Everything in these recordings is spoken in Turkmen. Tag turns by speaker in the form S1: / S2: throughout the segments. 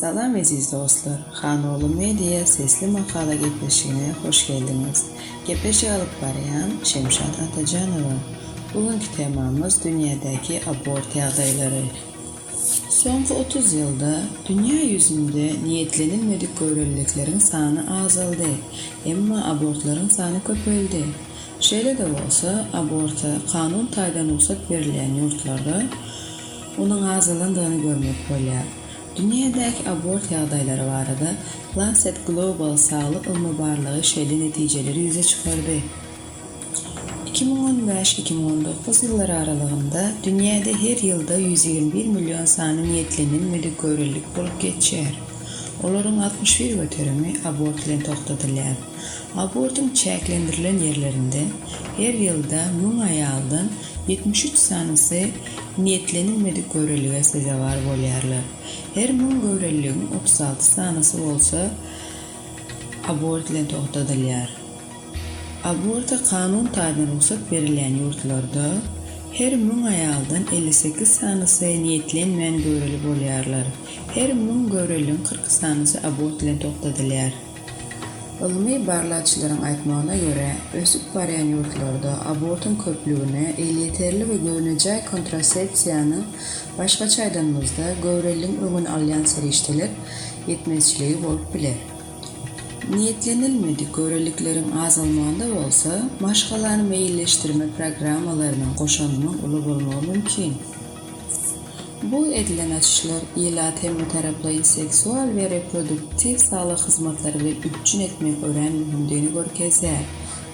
S1: Salam eziz dostlar! Hanogly Media sesli makala gepleşigine hoş geldiňiz. Gepleşik alyp barýan Şemşat Atajanowa. Bu günki temamyz dünýädäki abort ýagdaýlary. Soňky otuz ýylda dünýä ýüzünde niýetlenilmedik göwreliliklerin sany azaldy, emma abortlaryň sany köpeldi. Şeýle-de bolsa, aborta kanun taýdan rugsat berilýän ýurtlarda onuň azalandygyny görmek bolýar. Dünýädäki abort ýagdaýlary barada Lancet Global saglyk ylmy barlagy şeýle netijeleri ýüze çykardy, iki müň on bäş, iki müň on dokuz ýyllary aralygynda dünýäde her ýylda ýüz ýigrimi bir million sany niýetlenen medik-görelilik bolup geçýär, olaryň altmyş bir göterimi abort bilen togtadylýar. Abortuň çäklendirilen ýerlerinde her ýylda müň aýaldan ýetmiş üç sanysy, niýetlenilmedik göwrelilige sezewar bolýarlar. Her müň göwreliligiň otuz alty sanysy bolsa abort bilen togtadylýar. Aborta kanun taýdan rugsat berilýän ýurtlarda her müň aýaldan elli sekiz sanysy niýetlenmän göwreli bolýarlar. Her müň göwreliligiň kyrk sanysy abort bilen togtadylýar. Ylmy barlagçylaryň aýtmagyna görä, ösüp barýan ýurtlarda abortuň köplügine elýeterli we göwnejaý kontrasepsiýanyň, başgaça aýdanymyzda, göwreliligiň öňüni alýan serişdeler, ýetmezçiligi bolup biler. Niýetlenilmedik göwrelikleriň azalmagynda bolsa, maşgalany meýilleşdirme programmalarynyň goşandynyň uly bolmagy mümkin. Bu edilen açyşlar ilat hem Bitaraplaýyn seksual we reproduktiw saglyk hyzmatlary bilen üpjün etmegiň örän möhümdigini görkezýär.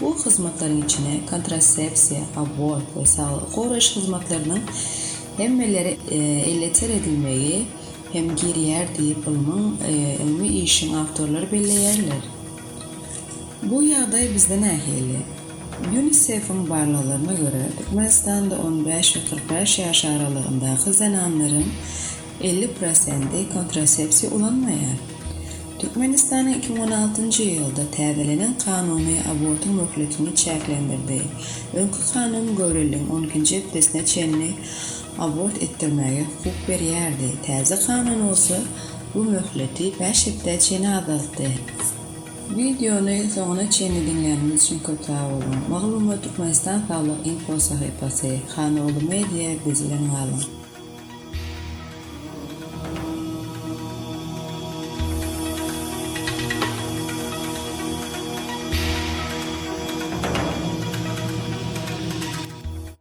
S1: Bu hyzmatlaryň içine kontrasepsiýa, abort we saglygy goraýyş hyzmatlarynyň hemmelere elýeter edilmegi hem girýär diýip ylmyň ylmy işiň awtorlary belleýärler. Bu ýagdaý bizde nähili? Ýunisef-iň barlaglaryna görä, Türkmenistanda on bäş we kyrk bäş ýaş aralygyndaky zenanlaryň elli prosenti kontrasepsiýa ulanmaýar. Türkmenistanyň iki müň on altynjy ýylda täzelenen kanuny abortyň möhletini çäklendirdi. Öňki kanun göwreliligiň on ikinji hepdesine çenli abort etdirmäge hukuk berýärdi, täze kanun bolsa bu möhleti bäş hepdä çenli azaltdy. Wideony soňuna çenli diňläniňiz üçin köp sag boluň. Maglumat Türkmenistan saglyk info sahypasy, Hanoglu media biz bilen galyň.